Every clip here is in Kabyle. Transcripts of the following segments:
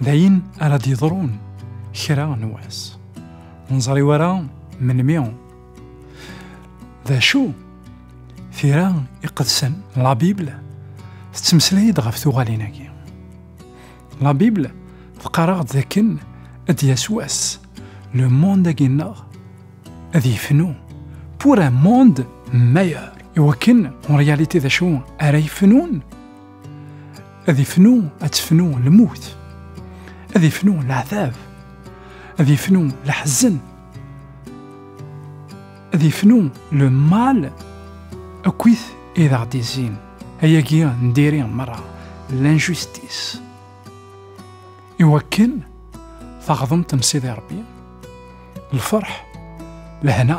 d ayen ara d-yeḍrun kra n wass ur neẓri ara melmi d acu tira iqedsen la bible tettmeslay-d ɣef tuɣalin-agi la bible teqqar-aɣ-d dakken ad d-yas wass le monde-agi-nneɣ ad yefnu pour un monde meilleur iwakken en réalité d acu ara yefnun ad ifnu ad tefnu lmut ad ifnu leɛtab ad ifnu leḥzen ad ifnu le mal akkit i d aɣ-d-izin ayagi n diri merra l'injustice iwakken taɣdemt n Sidi Rebbi lferḥ lehna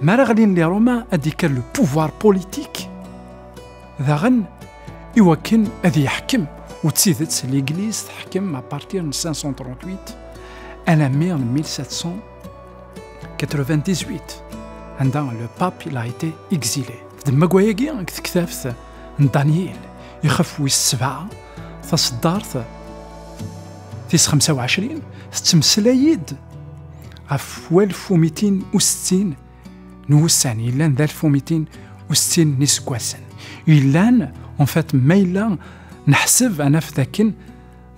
Mi ara ɣlin li Roma ad ikker le pouvoir politique daɣen iwakken ad yeḥkem u d tidet l'Église teḥkem à partir de 538 alammi en 1798 anda le pape il a été exilé. D mmagwa-agi deg tektabt n Daniel ixef wis sebɛa taseddart tis 25 tettmeslay-id ɣef walef umitin u settin n wussan yellan d alef umitin u settin n iseggasen yellan en fait ma yella neḥseb ad naf dakken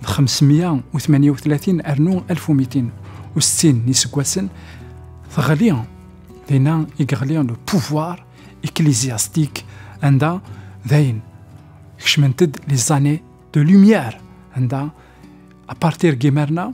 d 538 rnu 1260 n yiseggasen teɣli dinna i yeɣli le pouvoir ecclésiastique anda dayen kecment-d les années de lumière anda à partir gimerna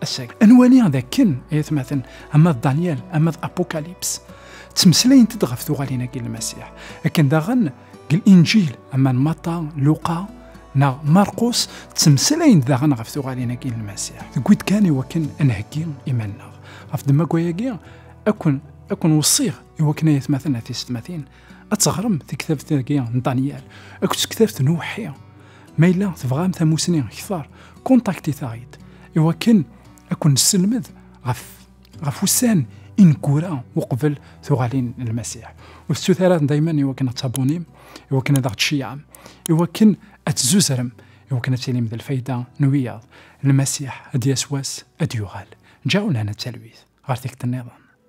asag. Nwali d akken, ay atmaten, ama d Daniel, ama d Apocalypse, ttmeslayent-d ɣef tuɣalin-agi n Lmasiḥ. Akken daɣen, deg Linǧil, ama n Mata, Luqa, neɣ Marqus, ttmeslayent daɣen ɣef tuɣalin-agi n Lmasiḥ. Tewwi-d kan i wakken ad nheggi iman-nneɣ. Ɣef ddemma n wayagi, akun akun weṣṣiɣ i wakken ay atmaten a tisetmatin ad teɣrem tektabt-agi n Daniel akked tektabt n Uḥi. Ma yella tebɣam tamusni ktar, kontaktit-aɣ-id iwakken ad kun-nesselmed ɣef ɣef ussan ineggura uqbel tuɣalin n Lmasiḥ. Ur tettut ara dayma iwakken ad tabunim, iwakken ad aɣ-tceyyɛem, iwakken ad tzuzrem, iwakken ad tilim d lfayda n wiyaḍ. Lmasiḥ ad d-yas wass ad d-yuɣal. Ǧaw lehna d talwit ɣer tikkelt-nniḍen.